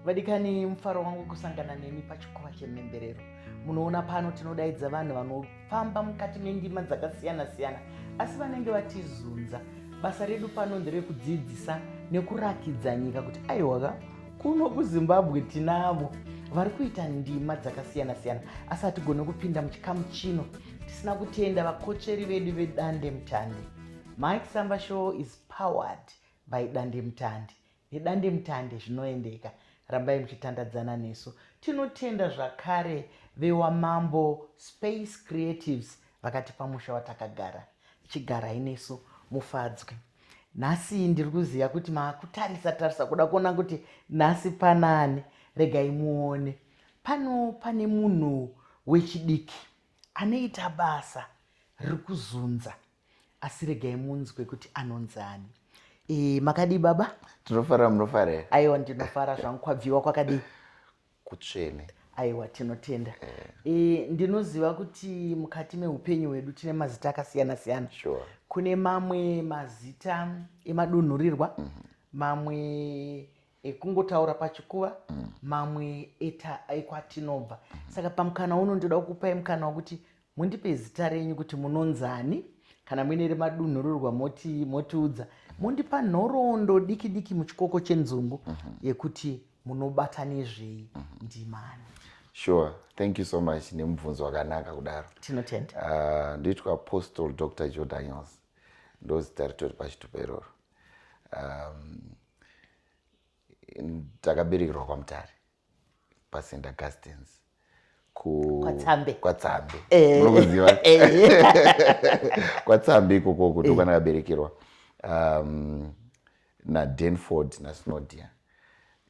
vadikani mufaro wangu kusangana nemi pachikova chemhemberero munoona pano tinodaidza vanhu vanofamba mukati mendima dzakasiyana siyana asi vanenge vatizunza basa redu pano nderekudzidzisa nekurakidza nyika kuti aiwaka kuno kuzimbabwe tinavo vari kuita ndima dzakasiyana siyana asi hatigone kupinda muchikamu chino tisina kutenda vakotsveri vedu vedande mutandi mike samba show is powered by dande mutandi Nedandemutande zvinoendeka rambai muchitandadzana nesu. Tinotenda zvakare vewaMambo Space Creatives vakatipa musha watakagara. Chigarai nesu mufadzwe. Nhasi ndiri kuziva kuti makutarisa tarisa kuda kuona kuti nhasi panaani. Regai muone. Pano pane munhu wechidiki anoita basa riri kuzunza asi regai munzwe kuti anonzi ani e, makadii baba tinofara munofara here aiwa ndinofara zvangu kwabviwa kwakadii kutsvene aiwa tinotenda e, ndinoziva kuti mukati meupenyu hwedu tine mazita akasiyana siyana sure. kune mamwe mazita emadunhurirwa mm -hmm. mamwe ekungotaura pachikuva mamwe eta ekwatinobva saka pamukana uno ndoda kukupai mukana wekuti mundipe zita renyu kuti munonzani kana muine remadunhurirwa moti motiudza mondipa nhoroondo diki diki muchikoko chenzungu yekuti munobata nezvei ndimani sure thank you so much nemubvunzo wakanaka kudaro tinotenda uh, ndoitwa apostle dr joe daniels ndozita ritori pachitupa iroro um, takaberekerwa kwamutare pasenda gastens kwatsambe kwatsambe eh. unokuziva eh. kwatsambe ikoko kuti ukwana eh. kaberekerwa um, nadenford nasnodia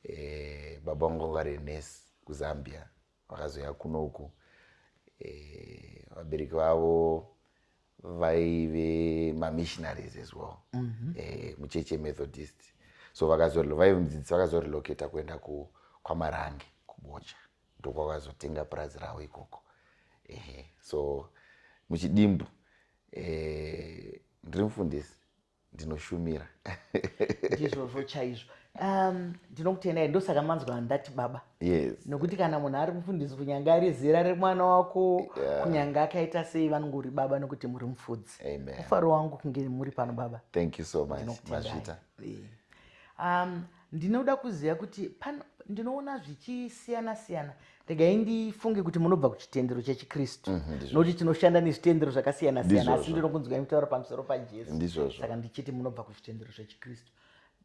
eh, baba vangu vangarenesi kuzambia vakazouya kuno uku eh, vabereki vavo vaive mamissionaries as well mm -hmm. e, mucheche methodist so vaive mudzidzisi vakazorelocata kuenda kwamarange kubocha ndokwakazotenga purazi ravo ikoko ehe so muchidimbu e, ndiri mufundisi ndinoshumira ndizvozvo chaizvo um, ndinokutendai ndosaka manzwa ndati baba yes nokuti kana munhu ari mufundisi kunyange ari zera remwana wako yeah. kunyange akaita sei vanongori baba nokuti muri mufudzi mufaro wangu kunge muri pano baba thank you so much mazvita um, ndinoda kuziva kuti pano ndinoona zvichisiyana siyana regai ndifunge kuti munobva kuchitendero chechikristu mhm, nokuti tinoshanda nezvitendero zvakasiyana siyana asi ndinokunzwai mutaura pamusoro pajesu saka ndichiti munobva kuzvitendero zvechikristu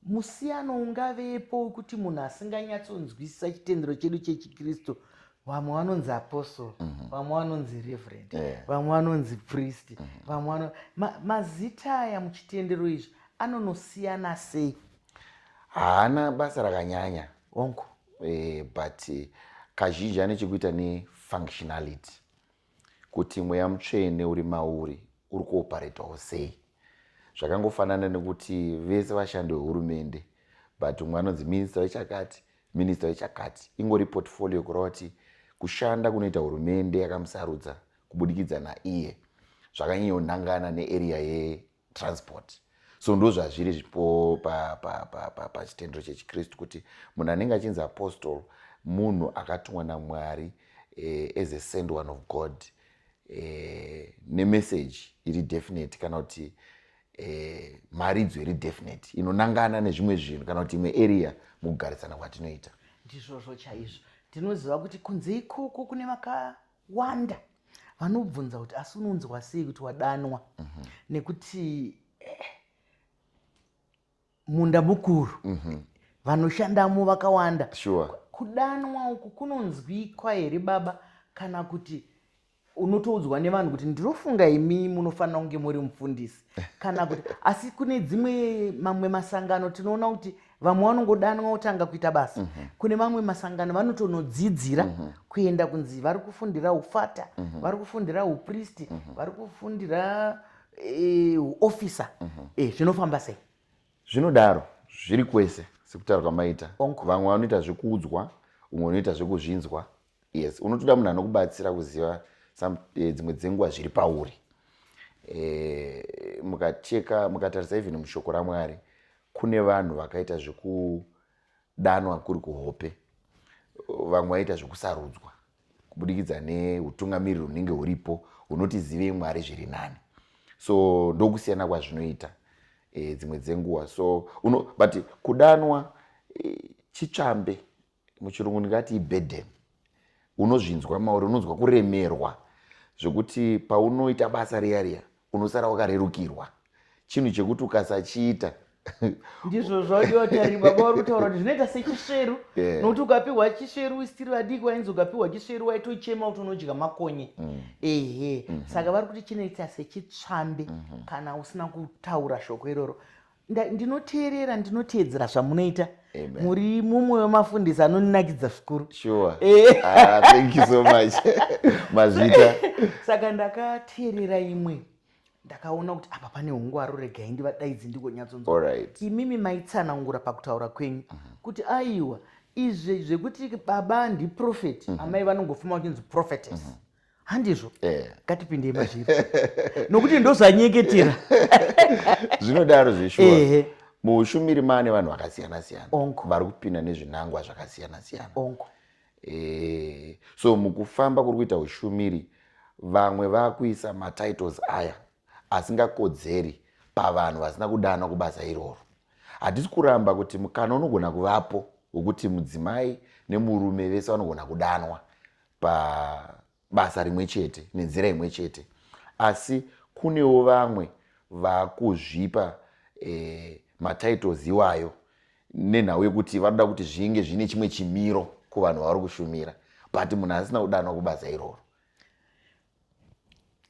musiyano ungavepo wekuti munhu asinganyatsonzwisisa chitendero chedu chechikristu vamwe vanonzi apostle mhm. vamwe vanonzi reverend eh. vamwe vanonzi priest mhm. vamwe mazita aya muchitendero izvi anonosiyana sei haana basa rakanyanya onk eh, but eh, kazhinji ane chekuita nefunctionality kuti mweya mutsvene uri mauri uri kuoparetwawo sei zvakangofanana nekuti vese vashandi vehurumende but umwe anonzi minista wechakati minista wechakati ingori portfolio kureva kuti kushanda kunoita hurumende yakamusarudza kubudikidza naiye zvakanyanyonangana nearea transport so ndozvazviri zvipo pachitendero chechikristu kuti munhu anenge achinzi apostol munhu akatumwa namwari eh, as a send one of god eh, nemessage iri definite kana kuti eh, mharidzo iri definite inonangana nezvimwe zvinhu kana kuti imwe area mukugarisana kwatinoita ndizvozvo chaizvo tinoziva kuti kunze ikoko kune vaka vakawanda vanobvunza kuti asi unonzwa sei kuti wadanwa mm -hmm. nekuti eh, munda mukuru mm -hmm. vanoshandamo vakawanda sure. kudanwa uku kunonzwikwa here baba kana kuti unotoudzwa nevanhu kuti ndinofunga imi munofanira kunge muri mufundisi kana kuti asi kune dzimwe mamwe masangano tinoona kuti vamwe vanongodanwa votanga kuita basa mhm. kune mamwe masangano vanotonodzidzira mhm. kuenda kunzi vari kufundira ufata mhm. vari kufundira upristi vari kufundira eh, uofisa eh, zvinofamba sei zvinodaro zviri kwese sekutaura kwamaita vamwe vanoita zvekuudzwa umwe unoita zvekuzvinzwa yes unotoda munhu anokubatsira kuziva eh, dzimwe dzenguva zviri pauri eh, mukacheka mukatarisa even mushoko ramwari kune vanhu vakaita zvekudanwa kuri kuhope vamwe vaita zvekusarudzwa kubudikidza neutungamiriri hunenge huripo hunoti zivei mwari zviri nani so ndokusiyana kwazvinoita e, dzimwe dzenguva so uno, but kudanwa e, chitsvambe muchirungu ndingati iburden unozvinzwa mauri unonzwa kuremerwa zvekuti paunoita basa riya riya unosara wakarerukirwa chinhu chekuti ukasachiita ndizvo zvodiwa tarima bauri kutaura kuti zvinoita sechisveru nokuti ukapihwa chisveru usitiri vadiki wainzi ukapihwa chisveru waitochema kuti unodya makonye mm. ehe mm-hmm. saka vari kuti chinoita sechitsvambe mm-hmm. kana usina kutaura shoko iroro ndinoteerera ndinoteedzera zvamunoita muri mumwe wemafundisi anonakidza zvikuru sure. Eh. Ah, thank you so much mazvita saka ndakateerera imwe ndakaona kuti apa pane ungwaru regai ndivadaidzi ndigonyatsonzwa right. imimi maitsanangura pakutaura kwenyu uh -huh. kuti aiwa izvi zvekuti baba ndiprofeti uh mhm. -huh. amai vanongofuma vachinzi prophetess uh mhm. -huh handizvo eh. ngatipindei mazviri nokuti ndozvanyeketera zvinodaro zveshuwa muushumiri maane vanhu vakasiyana siyana vari kupinda nezvinangwa zvakasiyana siyana eh, so mukufamba kuri kuita ushumiri vamwe vakuisa matitles aya asingakodzeri pavanhu vasina kudana kubasa iroro hatisi kuramba kuti mukana unogona kuvapo wekuti mudzimai nemurume vese vanogona kudanwa pabasa rimwe chete nenzira imwe chete asi kunewo vamwe vakuzvipa eh, matitles iwayo nenhau yekuti vanoda kuti zvinge zvine chimwe chimiro kuvanhu vavari kushumira but munhu asina kudanwa kubasa iroro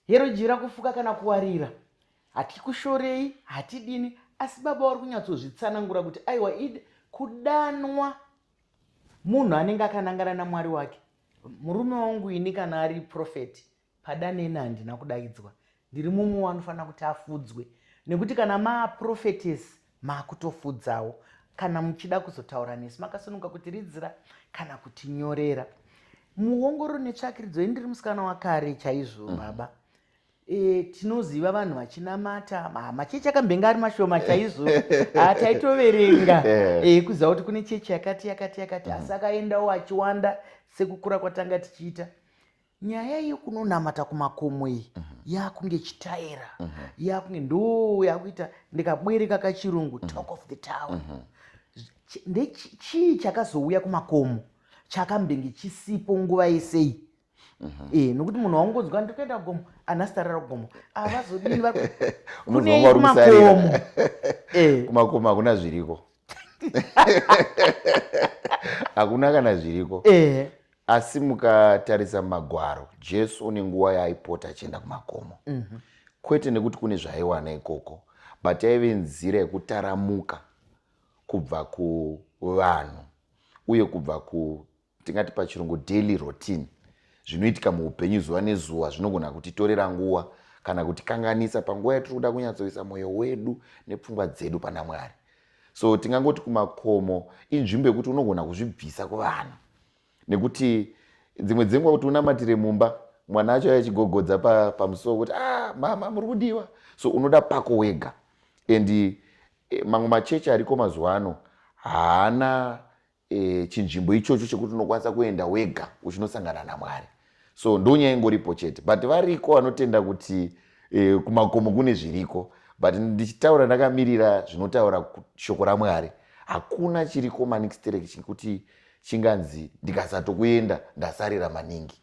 hero jira kufuka kana kuwarira hatikushorei hatidini asi baba wari kunyatsozvitsanangura kuti aiwa id kudanwa munhu anenge akanangana namwari wake murume wangu ini kana ari profeti pada neni handina kudaidzwa ndiri mumwe wanofanira kuti afudzwe nekuti kana maaprofetesi maakutofudzawo kana muchida kuzotaura nesu makasununga kuti ridzira kana kuti nyorera muongoro netsvakiridzo ini ndiri musikana wakare chaizvo mm. baba E, tinoziva vanhu vachinamata machechi akambenge ari mashoma chaizvo ah, taitoverenga e, kuziva kuti kune chechi yakati yakati yakati mm. asi akaendawo achiwanda sekukura kwatanga tichiita nyaya yekunonamata kumakomo iyi mm -hmm. yakunge chitaira mm -hmm. yakunge ndoo yakuita ndikabwereka kachirungu mm -hmm. talk of the town mm -hmm ndechii chakazouya kumakomo chakambenge chisipo nguva yesei Mhm. e nokuti munhu waungonzwa ndiri kuenda gomo ana sitarira kugomo avazodini ah, kunekumakomo eh. kumakomo hakuna zviriko hakuna kana zviriko eh. asi mukatarisa magwaro jesu une nguva yaaipota achienda kumakomo mhm. kwete nekuti kune zvaaiwana ikoko but yaive nzira yekutaramuka kubva kuvanhu uye kubva ku tingati pachirungu daily routine zvinoitika muupenyu zuva nezuva zvinogona kutitorera nguva kana kutikanganisa panguva yatiri kuda kunyatsoisa mwoyo wedu nepfungwa dzedu pana mwari so tingangoti kumakomo inzvimbo yekuti unogona kuzvibvisa kuvanhu nekuti dzimwe dzenguva kuti unamatire mumba mwana acho achigogodza pamusuwo kuti ah mama muri kudiwa so unoda pako wega and eh, mamwe machechi ariko mazuva ano haana e, chinzvimbo ichocho chekuti unokwanisa kuenda wega uchinosangana namwari so ndonyaya ingoripo chete but variko vanotenda kuti e, kumakomo kune zviriko but ndichitaura ndakamirira zvinotaura shoko ramwari hakuna chiriko manixterek chekuti chinganzi ndikasatokuenda ndasarira maningi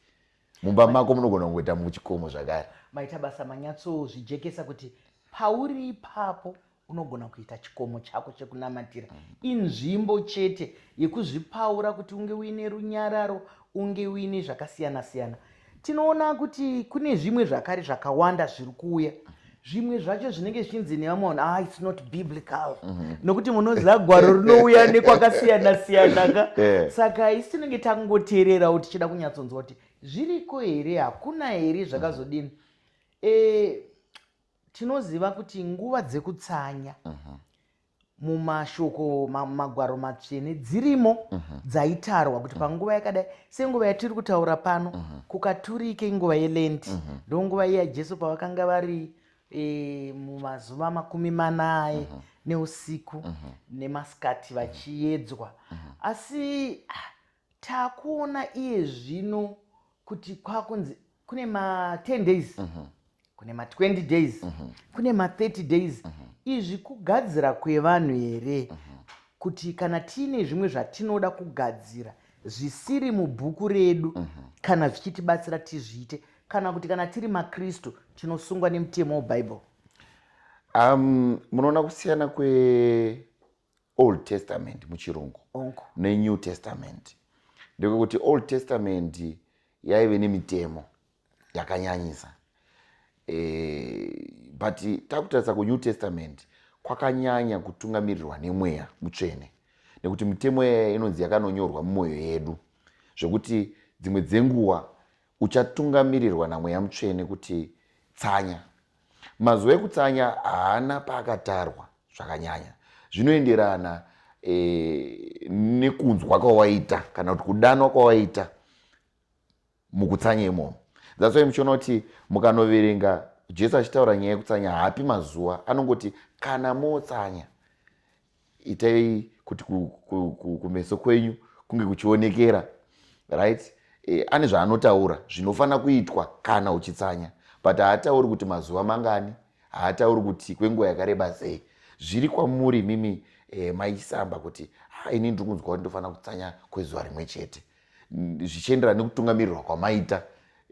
mumba mako munogona kungoita muchikomo zvakare maita basa manyatsozvijekesa kuti pauri ipapo Unogona kuita chikomo chako chekunamatira inzvimbo chete yekuzvipaura kuti unge uine runyararo, unge uine zvakasiyana siyana. Tinoona kuti kune zvimwe zvakare zvakawanda zviri kuuya zvimwe zvacho zvinenge zvichinzi nevamwe vanhu ah it's not biblical mhm. nokuti munoziva gwaro rinouya nekwakasiyana siyana ka eh. saka isi tinenge tangoteererawo tichida kunyatsonzwa kuti zviriko here hakuna here zvakazodini eh, tinoziva kuti nguva dzekutsanya mhm. mumashoko magwaro matsvene dzirimo mhm. dzaitarwa kuti mhm. panguva yakadai senguva yatiri kutaura pano kukaturike inguva yelenti ndo nguva iya jesu pavakanga vari e, mumazuva makumi manaye neusiku nemasikati vachiyedzwa asi ah, Takuona iye zvino kuti kwakunzi kune ma 10 days mm -hmm. kune ma 20 days mm -hmm. kune ma 30 days mm -hmm. izvi kugadzira kwevanhu here mm -hmm. kuti kana tiine zvimwe zvatinoda kugadzira zvisiri mubhuku redu mm -hmm. kana zvichitibatsira tizviite kana kuti kana tiri makristu tinosungwa nemutemo webhaibheri um, munoona kusiyana kwe old testament muchirungu nenew testament ndekwekuti old testament yaive nemitemo yakanyanyisa e, but takutarisa kunew testament kwakanyanya kutungamirirwa nemweya mutsvene nekuti mitemo yaya inonzi yakanonyorwa mumwoyo yedu zvekuti dzimwe dzenguva uchatungamirirwa namweya mutsvene kuti tsanya Mazuva ekutsanya haana paakatarwa zvakanyanya. Zvinoenderana e, nekunzwa kwawaita kana kuti kudanwa kwawaita mukutsanya imomo. That's why muchiona kuti mukanoverenga Jesu achitaura nyaya yekutsanya haapi mazuva, anongoti kana motsanya itai kuti kumeso kwenyu kunge kuchionekera right e, ane zvaanotaura zvinofanira kuitwa kana uchitsanya but haatauri kuti mazuva mangani haatauri kuti kwenguva yakareba sei zviri kwamuri mimi e, maisamba kuti ha ini ndiri kunzwa kuti ndofanira kutsanya kwezuva rimwe chete zvichienderana nekutungamirirwa kwamaita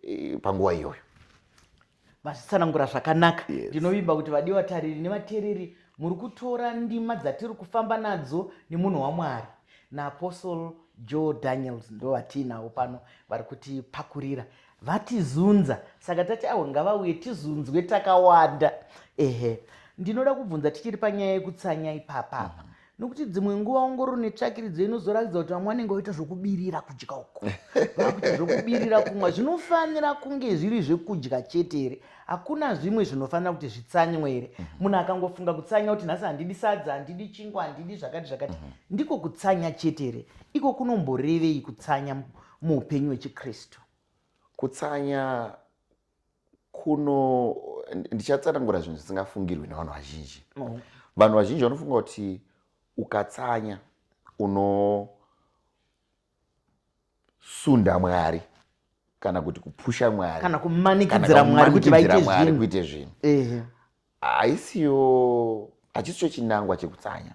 e, panguva iyoyo vazvitsanangura zvakanaka yes. ndinovimba kuti vadiwa tariri nevatereri muri kutora ndima dzatiri kufamba nadzo nemunhu wamwari naapostle joe daniels ndo vatiinawo pano vari kutipakurira vatizunza saka tati awo ngavauye tizunzwe takawanda ehe ndinoda kubvunza tichiri panyaya yekutsanya ipapapa mm -hmm. nokuti dzimwe nguva ongororo netsvakiridzo inozoratidza kuti vamwe vanenge vaita zvokubirira kudya uko vakuita zvokubirira kumwa zvinofanira kunge zviri zvekudya chete here hakuna zvimwe zvinofanira kuti zvitsanywe here mhm. munhu akangofunga kutsanya kuti nhasi handidi sadza handidi chingwa handidi zvakati zvakati mhm. ndiko kutsanya chete here iko kunomborevei kutsanya muupenyu hwechikristu kutsanya kuno ndichatsanangura zvinhu zvisingafungirwi nevanhu vazhinji oh. vanhu vazhinji vanofunga kuti ukatsanya unosunda mwari kana kuti kupusha mwari kana kumanikidzira mwari kuti vaite zvinhu haisiyo hachisicho chinangwa chekutsanya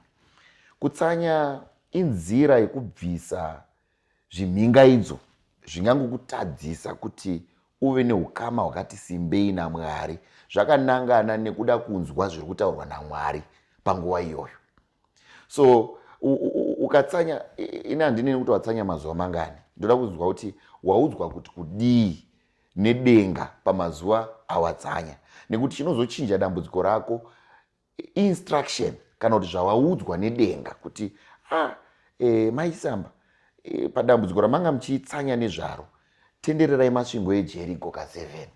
kutsanya inzira yekubvisa zvimhingaidzo zvingangokutadzisa kuti uve neukama hwakati simbei namwari zvakanangana nekuda kunzwa zviri kutaurwa namwari panguva iyoyo so ukatsanya ini handineni kuti watsanya mazuva mangani ndoda kunzwa kuti waudzwa kuti kudii nedenga pamazuva awatsanya nekuti chinozochinja dambudziko rako instruction kana kuti zvawaudzwa nedenga kuti a ah, e, eh, maisamba e, eh, padambudziko ramanga muchitsanya nezvaro tendererai masvingo ejeriko ka7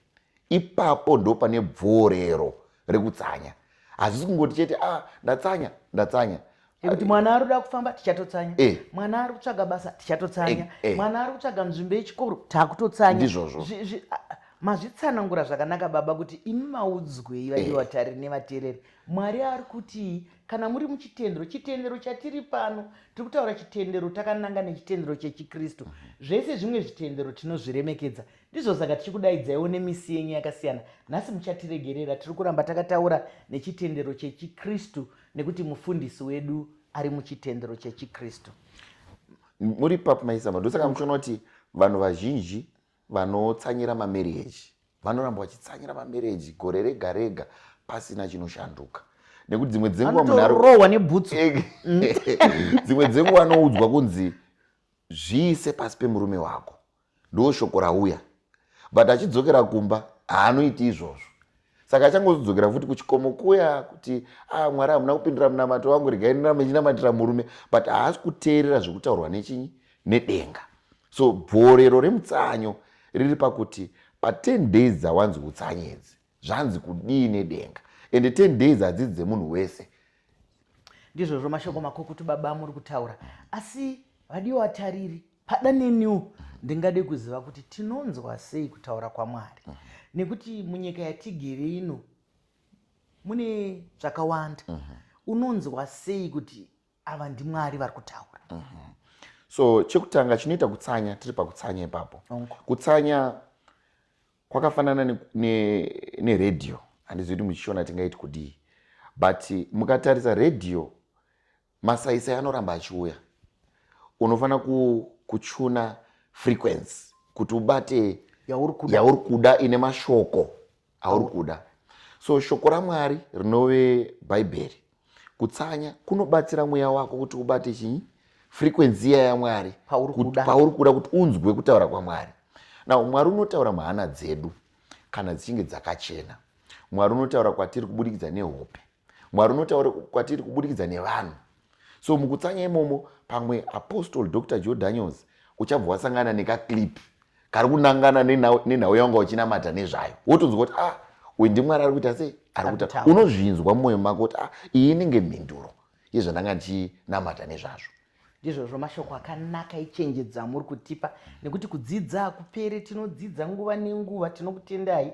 ipapo ndo pane bvorero rekutsanya hazvisi kungoti chete a ah, ndatsanya ndatsanya nekuti mwana ari kuda kufamba tichatotsanya eh. mwana ari kutsvaga basa tichatotsanya eh, eh. mwana ari kutsvaga nzvimbo yechikoro takutotsanya ndizvozvo mazvitsanangura zvakanaka baba kuti imi maudzwei vaivatari nevateereri mwari ari kuti kana muri muchitendero chitendero chatiri pano tiri kutaura chitendero takananga nechitendero chechikristu zvese zvimwe zvitendero tinozviremekedza Ndizvo saka tichikudaidzaiwo nemisi yenyu yakasiyana. Nhasi muchatiregerera, tiri kuramba takataura nechitendero chechiKristu nekuti mufundisi wedu ari muchitendero chechiKristu. Muri papi maisama, ndosaka muchiona kuti vanhu vazhinji vanotsanyira mamereji vanoramba vachitsanyira mamereji gore rega rega pasina chinoshanduka nekuti dzimwe dzenguva munhurohwa nebhutsu dzimwe dzenguva anoudzwa kunzi zviise pasi pemurume wako Ndoshoko rauya but achidzokera kumba haanoiti izvozvo saka achangozodzokera futi kuchikomo kuya kuti a ah, mwari hamuna kupindira munamato wangu regai ndiramba ichinamatira murume but haasi kuteerera zvekutaurwa nechinyi nedenga so bvorero remutsanyo riri pakuti pa10 days dzawanzi utsanyi idzi zvanzi kudii nedenga and 10 days hadzidzi dzemunhu wese ndizvozvo mashoko makukutu baba muri kutaura asi vadiwa vatariri pada neniwo ndingade kuziva kuti tinonzwa sei kutaura kwamwari mhm. nekuti munyika yatigere ino mune zvakawanda mhm. unonzwa sei kuti ava ndimwari vari kutaura mhm. so chekutanga chinoita kutsanya tiri pakutsanya ipapo kutsanya kwakafanana neredhiyo ne, ne handizivi kuti muchishona tingaiti kudii but mukatarisa redhiyo masaisai anoramba achiuya unofanira ku, kuchuna frequency kuti ubate yauri kuda, yauri kuda ine mashoko auri kuda so shoko ramwari rinove bhaibheri kutsanya kunobatsira mweya wako kuti ubate chii frequency iya yamwari pauri kuda kuti unzwe kutaura kwamwari now mwari unotaura muhana dzedu kana dzichinge dzakachena mwari unotaura kwatiri kubudikidza nehope mwari unotaura kwatiri kubudikidza nevanhu so mukutsanya imomo pamwe apostle dr joe daniels uchabva wasangana nekaclip kari kunangana nenhau yawanga uchinamata nezvayo wotonzwa kuti ah uyu ndimwari ari kuita sei ari kuita unozvinzwa mumwoyo mako kuti ah iyi inenge mhinduro yezvandanga ndichinamata nezvazvo ndizvozvo mashoko akanaka ichenjedzo amuri kutipa nekuti kudzidza hakupere tinodzidza nguva nenguva tinokutendai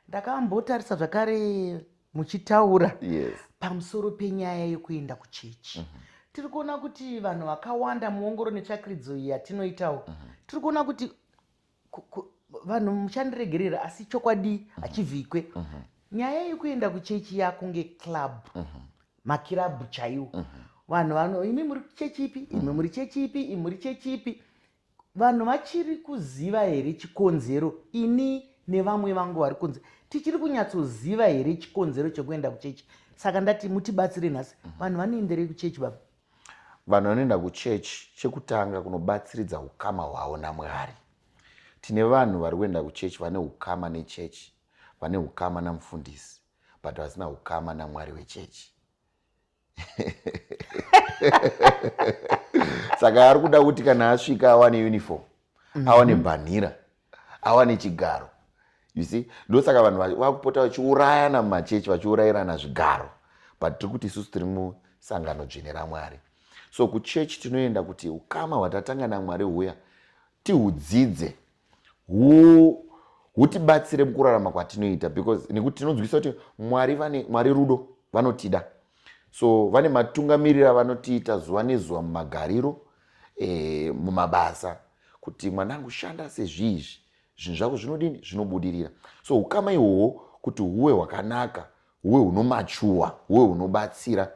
ndakambotarisa zvakare muchitaura yes. pamusoro penyaya yekuenda kuchechi mm -hmm tiri kuona kuti vanhu vakawanda muongoro netsvakiridzo iyi yatinoitawo mm -hmm. tiri kuona kuti vanhu muchandiregerera asi chokwadi mm -hmm. hachivhikwe mm -hmm. nyaya yekuenda kuchechi yakunge club mm -hmm. makirabhu chaiwo mm -hmm. vanhu vano imi muri chechi ipi imi mhm. muri chechi ipi imi muri chechi ipi Vanhu vachiri kuziva here chikonzero ini nevamwe vangu vari kunze tichiri kunyatsoziva here chikonzero chekuenda kuchechi saka ndati mutibatsire nhasi mhm. vanhu vanoenderei kuchechi baba vanhu vanoenda kuchechi chekutanga kunobatsiridza ukama hwavo namwari tine vanhu vari kuenda kuchechi vane ukama nechechi vane ukama namufundisi but vasina ukama namwari wechechi saka ari kuda kuti kana asvika awane uniform mhm. awane bhanhira awane chigaro you see ndosaka vanhu vakupota vachiurayana mumachechi vachiurayirana zvigaro but tiri kuti isusu tiri musangano dzvene ramwari so kuchechi tinoenda kuti ukama hwatatanga namwari huya tihudzidze hutibatsire mukurarama kwatinoita because nekuti tinonzwisa kuti mwari vane mwari rudo vanotida so vane matungamiriro avanotiita zuva nezuva mumagariro e, mumabasa kuti mwanangu shanda sezvii izvi zvinhu zvako zvinodini zvinobudirira so ukama ihwohwo kuti huwe hwakanaka huwe hunomachuwa huwe hunobatsira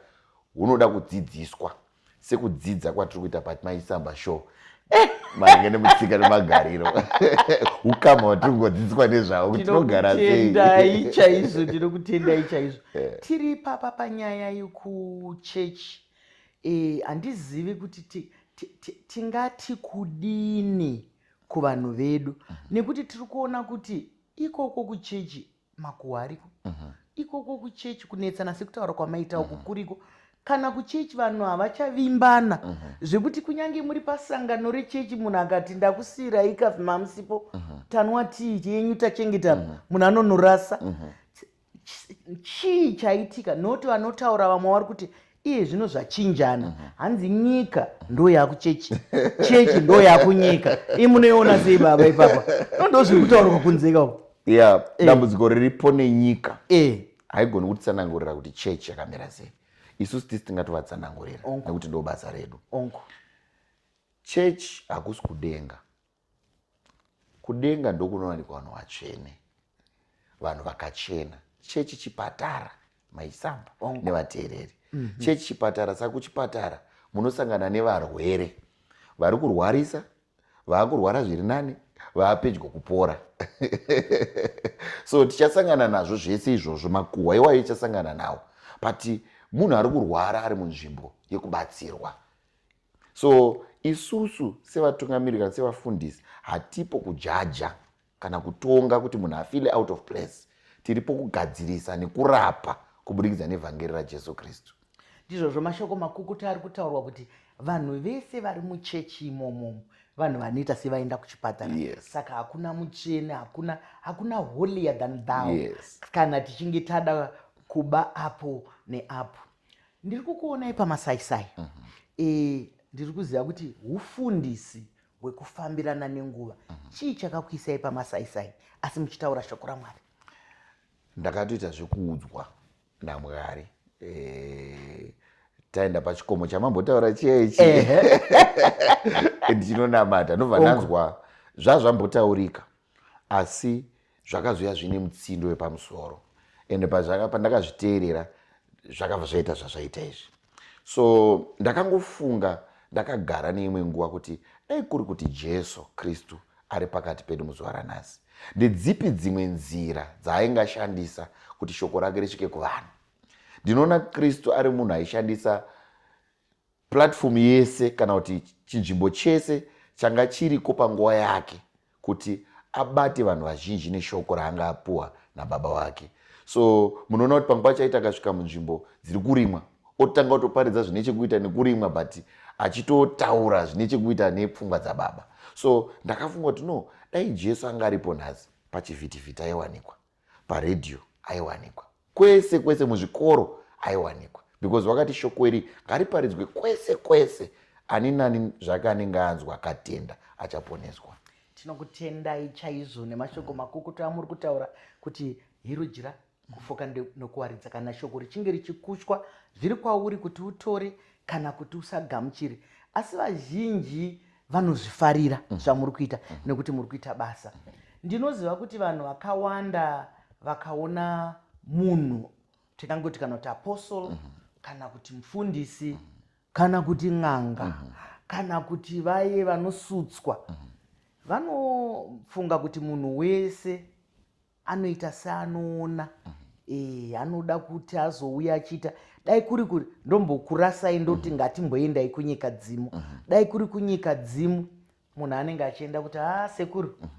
hunoda kudzidziswa sekudzidza kwatiri kuita but maisamba show eh, maringe nemutsika nemagariro ukama hwatiri kungodzidziswa nezvavo kuti tinogara seitendai chaizvo ndinokutendai chaizvo eh. tiri papa panyaya yekuchechi eh, handizivi kuti tingati kudini kuvanhu vedu mhm. nekuti tiri kuona kuti ikoko kuchechi makuhwa ariko mhm. ikoko kuchechi kunetsana sekutaura kwamaita uku mhm. kuriko kana kuchechi vanhu havachavimbana mhm. zvekuti kunyange muri pasangano rechechi munhu akati ndakusiirai kafi mamusipo tanwa tii chenyu tachengeta munhu anonorasa chii chaitika noti vanotaura vamwe vari kuti iye zvino zvachinjana mhm. hanzi nyika ndo yakuchechi chechi ndo yakunyika i munoiona sei baba ipapa ndozviri kutaurwa kunzeka uko ya eh. dambudziko riripo nenyika eh. haigoni kutsanangurira kuti chechi yakamira sei isusu tisi tingatovatsanangurira nekuti ndo basa redu chechi hakusi kudenga Kudenga ndokunowanikwa vanhu vatsvene, vanhu vakachena. Chechi chipatara maisamba nevateereri. Mm -hmm. Chechi chipatara, saka kuchipatara munosangana nevarwere vari kurwarisa, vaakurwara zviri nani, vaapedyo kupora so tichasangana nazvo zvese izvozvo makuhwa iwayo ichasangana nawo but munhu ari kurwara ari munzvimbo yekubatsirwa so isusu sevatungamiriri kana sevafundisi hatipo kujaja kana kutonga kuti munhu afile out of place tiripo kugadzirisa nekurapa kuburikidza nevhangeri rajesu kristu ndizvozvo mashoko makukuta ari kutaurwa kuti vanhu vese vari muchechi imomomo vanhu vanoita sevaenda kuchipatara yes. saka hakuna mutsvene hakuna hakuna holier than thou yes. kana tichinge tada kuba apo neapo ndiri kukuonai pamasaisai mm -hmm. e, ndiri kuziva kuti ufundisi hwekufambirana nenguva mm -hmm. chii chakakuisai pamasaisai asi muchitaura shoko ramwari ndakatoita zvekuudzwa namwari e, taenda pachikomo chamambotaura chiya ichi ndinonamata ndobva ndanzwa zvazvambotaurika asi zvakazoya zvine mutsindo wepamusoro ende pandakazviteerera zvakabva zvaita zvazvaita izvi so ndakangofunga ndakagara neimwe nguva kuti dai kuri kuti jesu kristu ari pakati pedu muzuva ranhasi ndedzipi dzimwe nzira dzaainge ashandisa kuti shoko rake risvike kuvanhu ndinoona kristu ari munhu aishandisa Platform yese kana kuti chinzvimbo chese changa chiriko panguva yake kuti abate vanhu vazhinji neshoko raanga apuwa nababa wake so munoona kuti panguva chaita akasvika munzvimbo dziri kurimwa otanga kutoparidza zvine chekuita nekurimwa but achitotaura zvine chekuita nepfungwa dzababa so ndakafunga kuti no dai jesu anga aripo nhasi pachivhitivhiti aiwanikwa paRadio aiwanikwa. Kwese kwese muzvikoro aiwanikwa because wakati shoko iri ngariparidzwe kwese kwese ani nani zvake anenge anzwa akatenda achaponeswa. Tinokutendai chaizvo nemashoko makukutu amuri kutaura kuti Hirudyira kufoka nokuwaridza kana shoko richinge richikushwa zviri kwauri kuti utore kana kuti usagamuchire asi vazhinji vanozvifarira mm. zvamuri kuita mm. nekuti muri kuita basa ndinoziva kuti vanhu vakawanda vakaona munhu tingangoti kana kuti apostle mm -hmm. kana kuti mufundisi mm -hmm. kana kuti n'anga mm -hmm. kana kuti vaye vanosutswa mm -hmm. vanofunga kuti munhu wese anoita seanoona eh, anoda kuti azouya achiita dai kuri kuri ndombokurasai ndoti mhm. ngatimboendai kunyika dzimu mhm. dai kuri kunyika dzimu munhu anenge achienda kuti ha ah, sekuru mhm.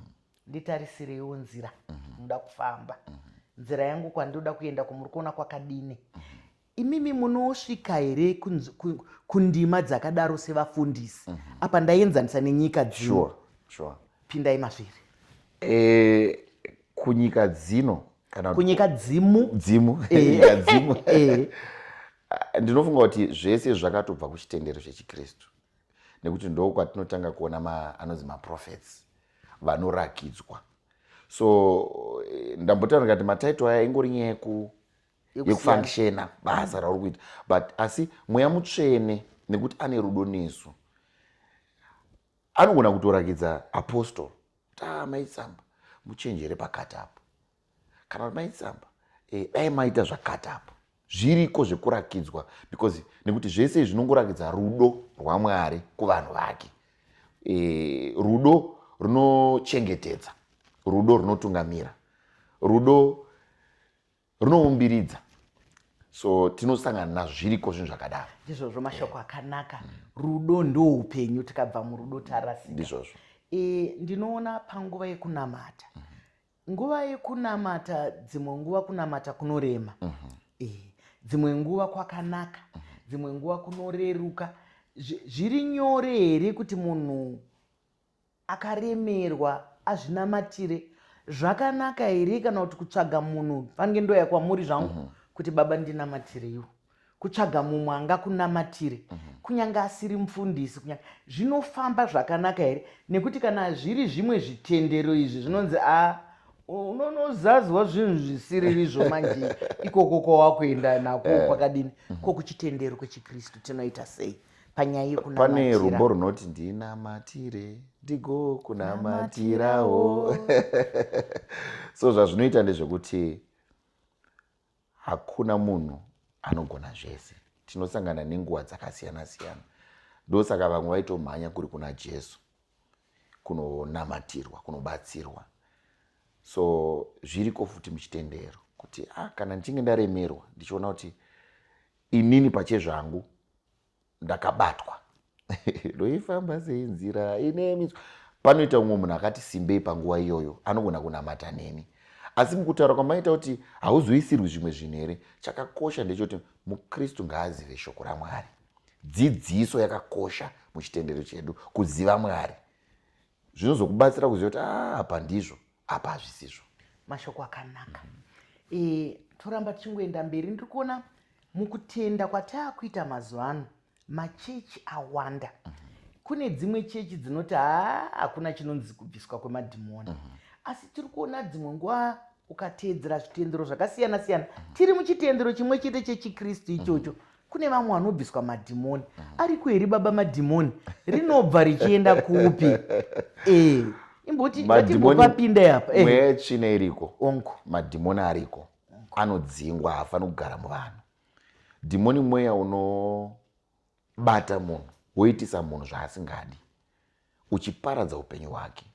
nditarisireiwo nzira ndoda kufamba nzira yangu kwandinoda kuenda kwamuri kuona kwakadini Imimi munosvika here kundima dzakadaro sevafundisi? Mhm. Apa ndaienzanisa nenyika dzino. Pindai mazviri. Eh, kunyika dzino kana kunyika dzimu dzimu eh. nyika dzimu eh. ah, ndinofunga kuti zvese zvakatobva kuchitendero chechikristu nekuti ndo kwatinotanga kuona ma, anonzi maprofets vanorakidzwa so eh, ndambotaura ndikati mataito aya ingori nyaya yeku yekufunctiona basa rauri kuita but asi mweya mutsvene nekuti ane rudo nesu anogona kutorakidza apostol kuti a ah, maitsamba muchenjere pakati apo kana kuti maitsamba eh, dai maita zvakati apo zviriko zvekurakidzwa because nekuti zvese izvi zvinongorakidza rudo rwamwari kuvanhu vake e, rudo runochengetedza rudo runotungamira rudo rinoumbiridza so tinosangana nazvo zviriko zvinhu zvakadaro ndizvozvo mashoko akanaka rudo ndoupenyu tikabva murudo tarasika ndizvozvo e, ndinoona panguva yekunamata mm -hmm. nguva yekunamata dzimwe nguva kunamata kunorema mm -hmm. e, dzimwe nguva kwakanaka mm -hmm. dzimwe nguva kunoreruka zviri nyore here kuti munhu akaremerwa azvinamatire zvakanaka here kana kuti kutsvaga munhu pange ndoya kwamuri zvangu mm -hmm. kuti baba ndinamatireiwo kutsvaga mumwe angakunamatire mm -hmm. kunyange asiri mufundisi kunyange zvinofamba zvakanaka here nekuti kana zviri zvimwe zvitendero izvi zvinonzi a ah, unonozazwa zvinhu zvisiriri zvo manje ikoko kwawakuenda nako eh. kwakadini mm -hmm. ko kuchitendero kwechikristu tinoita sei panyaya yekunamatira pane rumbo runoti ndinamatire ndigo kunamatirawo so zvazvinoita ndezvekuti hakuna munhu anogona zvese tinosangana nenguva dzakasiyana siyana ndosaka vamwe vaitomhanya kuri kuna jesu kunonamatirwa kunobatsirwa so zviriko futi muchitendero kuti ah, kana ndichinge ndaremerwa ndichiona kuti Inini pachezvangu ndakabatwa ndoifamba sei nzira ine mitswa. Panoita umwe munhu akati simbei panguva iyoyo anogona kunamata neni. Asi mukutaura kwamaita kuti hauzoisirwi zvimwe zvinhu here, chakakosha ndechoti muKristu ngaazive shoko raMwari. Dzidziso yakakosha muchitendero chedu, kuziva Mwari zvinozokubatsira kuziva kuti ah, apa ndizvo apa hazvisizvo mashoko akanaka mm -hmm. e, toramba tichingoenda mberi ndiri kuona mukutenda kwataakuita mazuva ano machechi awanda mm -hmm kune dzimwe chechi dzinoti haa hakuna chinonzi kubviswa kwemadhimoni mhm. asi tiri kuona dzimwe nguva ukateedzera zvitendero zvakasiyana siyana mhm. tiri muchitendero chimwe chete chechikristu ichocho mhm. kune vamwe vanobviswa madhimoni mhm. ariko here baba madhimoni rinobva richienda kupi e imboti vatimbopapinda apa eh. mweya yetsvina iriko onko madhimoni ariko anodzingwa haafaniri kugara muvanhu dhimoni mweya unobata munhu woitisa munhu zvaasingadi uchiparadza upenyu hwake.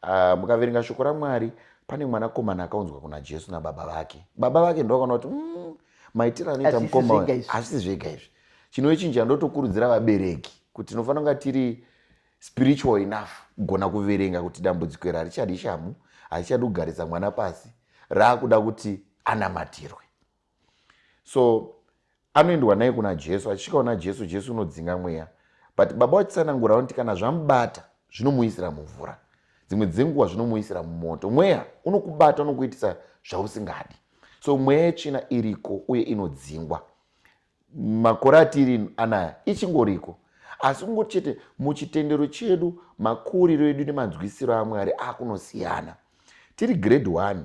Uh, mukaverenga shoko raMwari pane mwanakomana akaunzwa kuna Jesu nababa vake. Baba vake ndovakaona kuti mm, maitiro anoita mukoma hazvisi zvega izvi. Chinochinja ndotokurudzira vabereki kuti tinofanira kunga tiri spiritual enough kugona kuverenga kuti dambudziko iri harichadi shamu, harichadi kugarisa mwana pasi, raakuda kuti anamatirwe. so anoendwa naye kuna jesu achisvika kuna jesu jesu unodzinga mweya but baba vachitsanangura vanoti kana zvamubata zvinomuisira mumvura dzimwe dzenguva zvinomuisira mumoto mweya unokubata unokuitisa zvausingadi so mweya yetsvina iriko uye inodzingwa makore atiri anaya ichingoriko asi kungoti chete muchitendero chedu makuriro edu nemanzwisiro amwari akunosiyana tiri grade one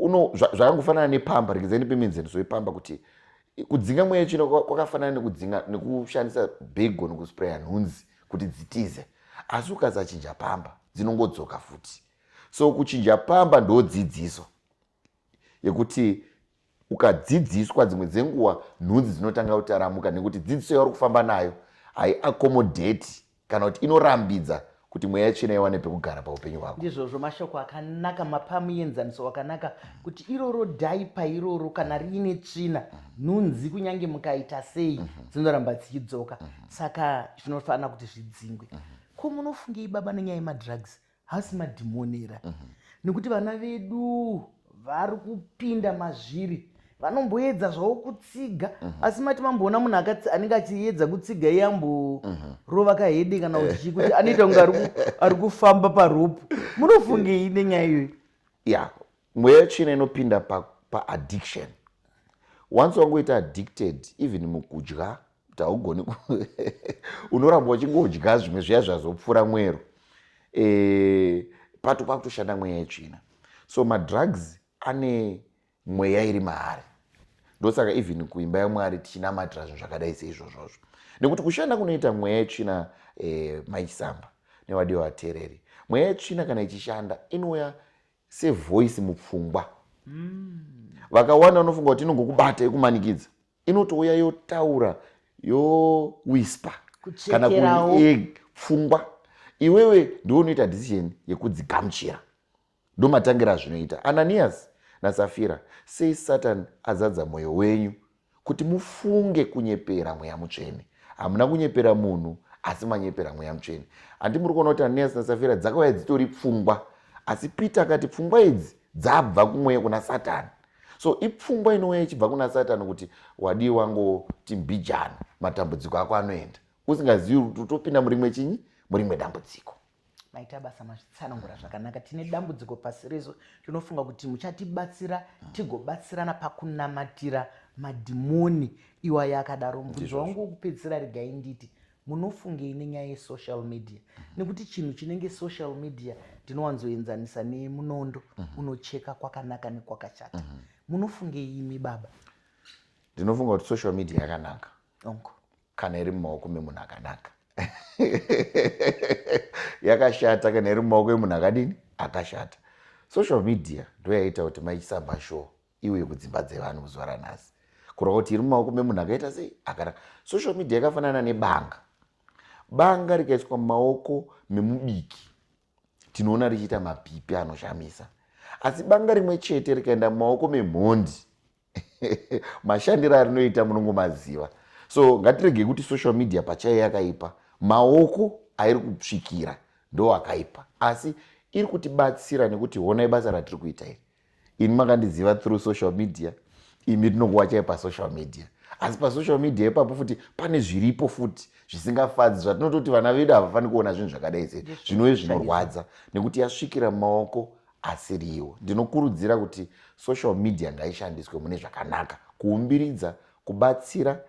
uno zvakangofanana nepamba regedzani pemenzeniso yepamba kuti kudzinga mweya yetsvina kwakafanana nekudzinga nekushandisa bhego nekuspraya nhunzi kuti dzitize asi ukasachinja pamba dzinongodzoka futi so kuchinja pamba ndodzidziso yekuti Ukadzidziswa dzimwe dzenguva nhunzi dzinotanga kutaramuka nekuti dzidziso yauri kufamba nayo haiakomodheti kana kuti inorambidza kuti mweya tsvina iwane pekugara paupenyu hwako ndizvozvo mashoko akanaka mapa muenzaniso wakanaka kuti iroro dhaipa iroro kana riine tsvina nhunzi kunyange mukaita sei mhm. dzinoramba dzichidzoka mhm. saka zvinofanira kuti zvidzingwe mhm. ko munofungei baba nenyaya yemadrugs hasi madhimonera mm -hmm. nekuti vana vedu vari kupinda mazviri vanomboedza zvavo kutsiga mm -hmm. asi mati mamboona munhu anenge achiedza kutsiga iye amborova mhm. mm -hmm. kahede kana kuti chii kuti anoita kunge ari kufamba paropu munofungei nenyaya iyoyi ya mweya tsvina inopinda paaddiction pa once wangoita addicted even mukudya Kuti haugoni unoramba uchingodya zvimwe zviya zvazopfuura mwero e, pato pakutoshanda mweya yetsvina so madrugs ane mweya iri maari ndosaka even kuimba yamwari tichinamatira zvinhu zvakadai seizvozvozvo nekuti kushanda kunoita mweya yetsvina e, maisamba nevadiwa vateereri mweya yetsvina kana ichishanda inouya sevoice mupfungwa mm. vakawanda vanofunga kuti inongokubata ikumanikidza inotouya yotaura yowispa kana pfungwa iwewe ndiwe unoita decision yekudzigamuchira ndomatangira azvinoita ananiyasi nasafira sei satani azadza mwoyo wenyu kuti mufunge kunyepera mweya mutsvene hamuna kunyepera munhu asi manyepera mweya mutsvene handi muri kuona kuti ananiyasi nasafira dzakauya dzitori pfungwa asi peter akati pfungwa idzi dzabva kumweya kuna satani so ipfungwa inouya ichibva kuna satani kuti wadii wango timbijana matambudziko ako anoenda usingazivi kuti utopinda murimwe chinyi murimwe dambudziko maita basa mazvitsanangura zvakanaka tine dambudziko pasi resu tinofunga kuti muchatibatsira tigobatsirana pakunamatira madhimoni iwayo akadaro mubvunzo wangu wokupedzisira regai nditi munofungei nenyaya yesocial media mm -hmm. nekuti chinhu chinenge social media ndinowanzoenzanisa nemunondo mm -hmm. unocheka kwakanaka nekwakashata mm -hmm. munofungei imi baba ndinofunga kuti social media yakanaka onko kana iri mumaoko memunhu akanaka yakashata kana iri mumaoko emunhu akadini akashata social media ndoyaita kuti maisamba show iuye kudzimba dzevanhu muzuva ranhasi kureva kuti iri mumaoko memunhu akaita sei akanaka social media yakafanana nebanga banga rikaiswa mumaoko memubiki tinoona richiita mapipi anoshamisa asi banga rimwe chete rikaenda mumaoko memhondi mashandiro arinoita munongomaziva so ngatiregei kuti social media pachaiyo yakaipa maoko airi kusvikira ndo akaipa asi iri kutibatsira nekuti honai basa ratiri kuita iri ini makandiziva through social media imi tinokuwachai pasocial media asi pasocial media ipapo futi pane zviripo futi zvisingafadzi zvatinototi vana vedu havafaniri kuona zvinhu zvakadai sei zvinove zvinorwadza nekuti yasvikira mumaoko asiriwo ndinokurudzira kuti social media ngaishandiswe mune zvakanaka kuumbiridza kubatsira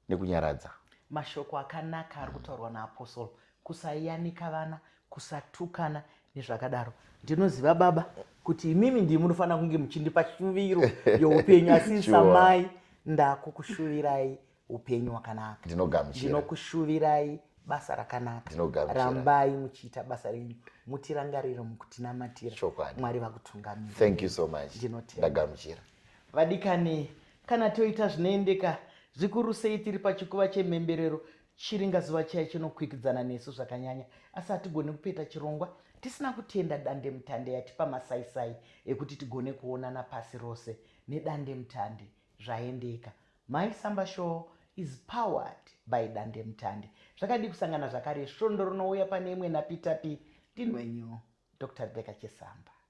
nekunyaradza. Mashoko akanaka ari kutaurwa naApostle, kusayanika vana, kusatukana nezvakadaro. Ndinoziva baba kuti imimi ndii munofanira kunge muchindipa shuviro youpenyu asi samai ndakukushuvirai upenyu wakanaka ndinokushuvirai basa rakanaka rambai muchiita basa renyu mutirangariro mukutinamatira mwari vakutungamira so ndinotendagamuchira vadikani Kana toita zvinoendeka, zvikuru sei tiri pachikuva chemhemberero, Chiringazuva chiya chinokwikwidzana nesu zvakanyanya. Asi hatigoni kupeta chirongwa tisina kutenda dandemutande yatipa masaisai ekuti tigone kuonana pasi rose nedandemutande. Zvaendeka. Mai Samba Show is powered by dandemutande. Zvakadii kusangana zvakare svondo rinouya pane imwe Napi Tapi Tinwenyu, Doctor Rebecca Chesamba.